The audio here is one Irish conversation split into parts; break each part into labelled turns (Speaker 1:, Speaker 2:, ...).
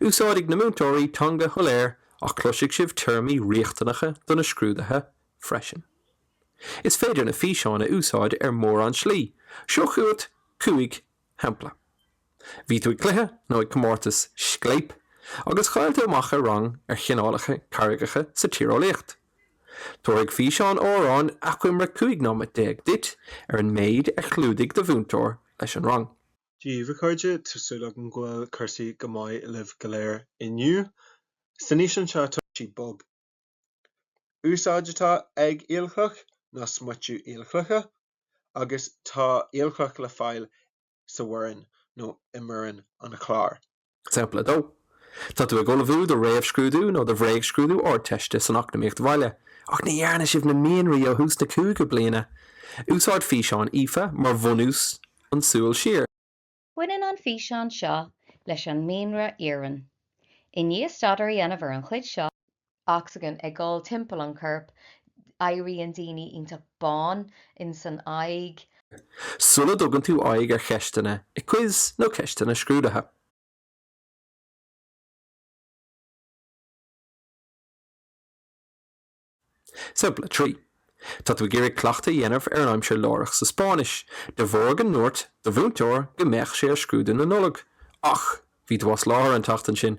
Speaker 1: Úsáidfidh na múinteoirí teanga shoiléir ach cloisfidh sibh téarmaí riachtanacha do na scrúdaithe freisin. Is féidir na físeáin a úsáid ar mhórán slí, seo chugat cúig shampla. Bhí tú ag cluiche nó ag comórtas Scléip agus chaill tú amach ar rang ar chineálacha carraigeacha sa tíreolaíocht. Tabharfaidh físeán amháin achoimre 15 nóiméad duit ar an méid a chlúdaigh do mhúinteoir leis an rang. daoibh, a
Speaker 2: chairde. Tá súil agam go bhfuil cúrsaí go maith libh go léir inniu. San fhíseán seo, tá sí bog. Úsáid atá ag aolchloch ná smiotú aolchloiche agus tá aolchloch le fáil sa Bhoirinn nó i mBoirinn an Chláir. Sampla
Speaker 1: 2, Tá tú ag ullmhú do réamhscrúdú nó do bhréagscrúdú Ardteiste san Eacnamaíocht Bhaile ach ní dhearna sibh na mianraí ó thús na cúigiú bliana. Úsáid físeán Aoife mar bhunús an súil siar. Baineann
Speaker 3: an físeán seo leis an mianra iarann. I ndiaidh staidéar a dhéanamh ar an chuid seo, ocsaigin ag dul timpeall an choirp, éiríonn daoine iontach bán insan aghaidh. Sula
Speaker 1: dtugann tú aghaidh ar cheisteanna i quiz nó ceisteanna scrúdaithe. Sampla 3, Tá tú ag iarraidh cleachtadh a dhéanamh ar an aimsir láithreach sa Spáinnis de bharr go ndúirt do mhúinteoir go mbeadh sé ar scrúdú na Nollag ach bhí tú as láthair an tseachtain sin.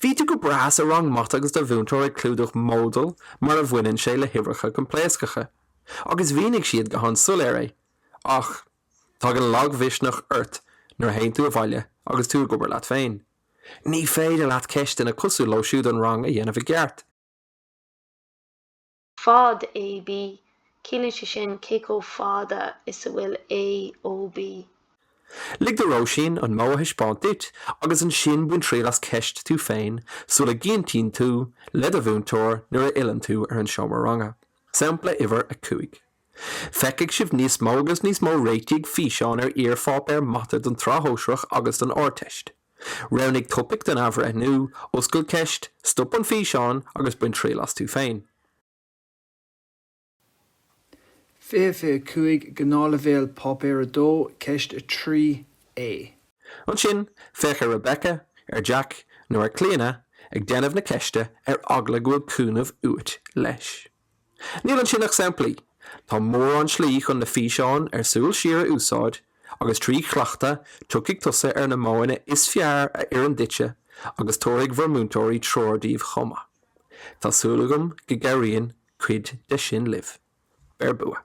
Speaker 4: Bhí
Speaker 1: tú go breá sa rang mata agus do mhúinteoir ag clúdach modail mar a bhaineann sé le huimhreacha coimpléascacha agus mhínigh siad go han-soiléir é. Ach tagann lagmhisneach ort nuair a théann tú abhaile agus tú ag obair leat féin. Ní féidir leat ceisteanna cosúil leo siúd an rang a dhéanamh i gceart.
Speaker 5: Fad AB, Ciallaíonn sé sin cé chomh fada is a bhfuil A ó
Speaker 1: B. Lig do Róisín an modh a thaispeáint duit agus ansin bain triail as ceist tú féin sula gcinntíonn tú le do mhúinteoir nuair a fhilleann tú ar an seomra ranga. Sampla Uimhir 5, Feicfidh sibh níos mó agus níos mó réitigh físeáin ar iarpháipéir mata don tSraith Shóisearach agus don Ardteist. Roghnaigh topaic don athbhreithniú, oscail ceist, stop an físeán agus bain triail as tú féin.
Speaker 6: 2025, Gnáthleibhéal, Páipéar 2, Ceist 3A.
Speaker 1: Ansin, féach ar Rebecca, ar Jack nó ar Clíona ag déanamh na ceiste ar eagla go bhfuil cúnamh uait leis. Níl ansin ach samplaí. Tá mórán slí chun na físeáin ar súil siar a úsáid agus trí chleachtadh tiocfaidh tusa ar na modhanna is fearr a oireann duitse agus tabharfaidh bhur múinteoirí treoir daoibh chomh maith. Tá súil agam go gcabhraíonn cuid de sin libh. Beir bua!